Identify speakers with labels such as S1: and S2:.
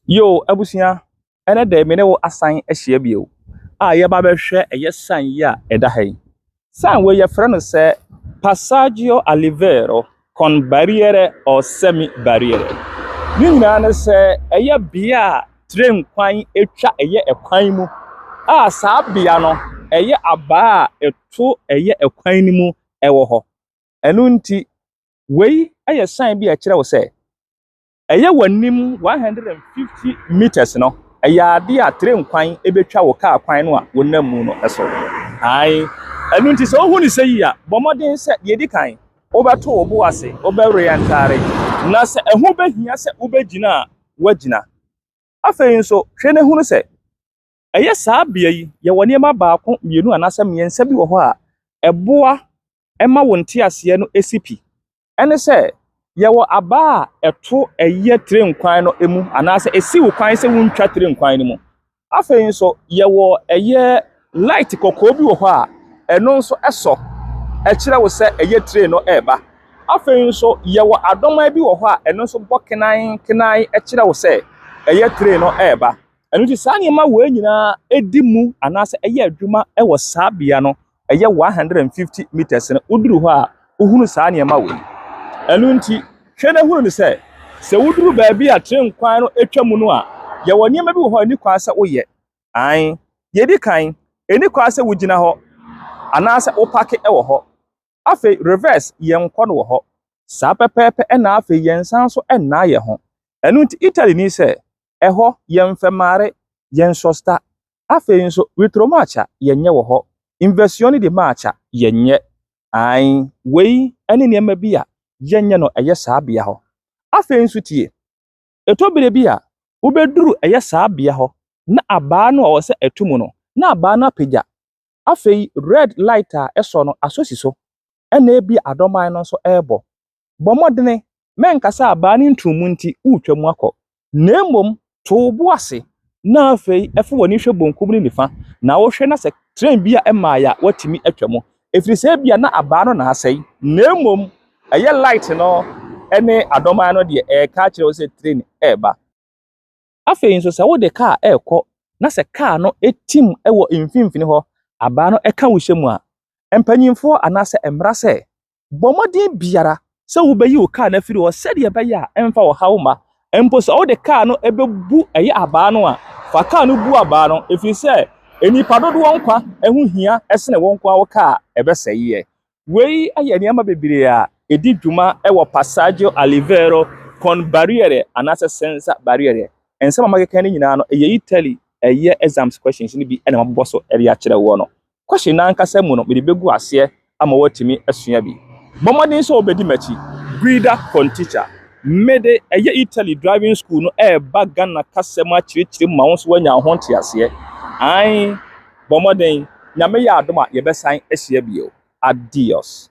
S1: Yo abusua, ɛnɛ dɛ me ne wo asan ahyia bio a yɛba bɛhwɛ ɛyɛ sign yi a ɛda ha yi. Sign wei yɛfrɛ no sɛ Passaggio a Liveiro con Barriere or Semi Barriere. Ne nyinaa ne sɛ ɛyɛ bea a train kwan atwa ɛyɛ ɛkwan mu a saa bea no ɛyɛ abaa a ɛto ɛyɛ ɛkwan no mu ɛwɔ hɔ. Ɛno nti wei ɛyɛ sign bi a ɛkyerɛ wo sɛ Ɛyɛ w'anim one hundred and fifty metres no, ɛyɛ adeɛ a train kwan bɛtwa wo kaa kwan no a wonam mu no so. Ae. Ɛno nti sɛ wohu no sɛ yie a, bɔ mmɔden sɛ, deɛ ɛdi kan, wobɛto wo bo ase, wobɛwere ntaare, na sɛ ɛho bɛhia sɛ wobɛgyina a, woagyina. Afei nso, hwɛ na hunu sɛ, ɛyɛ saa bea yi, yɛwɔ nneɛma baako, mmienu anaasɛ mmiɛnsa bi wɔ hɔ a, ɛboa ma wo nteaseɛ no si pi. ɛne sɛ yɛwɔ aba a ɛto ɛyɛ tire nkwan no mu anaasɛ ɛsi wo kwan sɛ wontwa tire nkwan no mu. Afei nso yɛwɔ ɛyɛ light kɔkɔɔ bi wɔ hɔ a ɛno nso ɛsɔ ɛkyerɛ wo sɛ ɛyɛ tire no ɛreba. Afei nso yɛwɔ adɔman bi wɔ hɔ a ɛno nso bɔ kenan kenan ɛkyerɛ wo sɛ ɛyɛ tire no ɛreba. Ɛno nti saa nneɛma wei nyinaa ɛdi mu anaasɛ ɛyɛ adwuma ɛwɔ saa bea no ɛyɛ one hundred and fifty meters no woduru hɔ a wohunu saa nneɛma wei ɛno nti hwɛ na hunu no sɛ sɛ woduru baabi a tren kwan no atwa mu no a yɛwɔ nneɛma bi wɔ hɔ a ɛni kwan sɛ woyɛ an yɛdi kan ɛni kwan sɛ wogyina hɔ anaasɛ wopake wɔ hɔ afei reverse yɛn nkɔ no wɔ hɔ saa pɛpɛɛpɛ ɛna afei yɛn nsa nso ɛnna yɛ ho ɛno nti italy ni sɛ ɛhɔ yɛn fɛmaare yɛn sɔsta Afei nso retro march a yɛnyɛ wɔ hɔ, inversione di march a yɛnyɛ. Aane, wei ne nneɛma bi a yɛnyɛ no ɛyɛ saa bea hɔ. Afei nso tie, ɛtɔ bere bi a wobɛduru ɛyɛ saa bea hɔ na abaa no a ɔwɔ sɛ ɛto mu no, na abaa no apagya. Afei red light a ɛsɔ no asɔ si so, ɛna ebia adɔman no nso rebɔ. Bɔ mmɔdene, mɛnka sɛ abaa ne ntumu nti woretwam akɔ, na mmom to wo bo ase na afei fa w'ani hwɛ benkum ne nifa na wohwɛ na sɛ tren bi a ɛmmaeɛ a woatumi atwam, ɛfiri sɛ ebia na abaa no na asɛe, na mmom ɛyɛ light no ne adomaa no deɛ ɛreka akyerɛ wo sɛ tren reba. Afei nso sɛ wode kaa rekɔ na sɛ kaa no tim wɔ mfimfini hɔ, abaa no ka wo hyɛ mu a, mpanimfoɔ anaasɛ mmara sɛ Bɔ mmɔden biara sɛ wobɛyi wo kaa no afiri hɔ sɛdeɛ ɛbɛyɛ a ɛmfa ɔhaw mma. Mpo sɛ wode kaa no bɛbu ɛyɛ abaa no a, fa kaa no bu abaa no, ɛfiri sɛ nnipa dodoɔ nkwa ho hia sene wo nko ara wo kaa a ɛbɛsɛeɛ. Wei yɛ nneɛma bebree a ɛdi dwuma wɔ Passaggio a Livello con Barriere anaasɛ Senza Barriere. Nsɛm a makeka no nyinaa no, ɛyɛ Italy ɛyɛ exams questions no bi na mabobɔ so de akyerɛ woɔ no. Kwahye no ankasa mu no mede bɛgu aseɛ ama woatumi asua bi. Bɔ mmɔden sɛ wobɛdi m'akyi. Guida con teacher. Mede ɛyɛ Italy driving school no reba Ghana kasa mu akyerɛkyerɛ mu ma wo nso woanya wo ho nteaseɛ. Ae, bɔ mmɔden. Nyame yɛ adom a yɛbɛsan ahyia bio. Adios.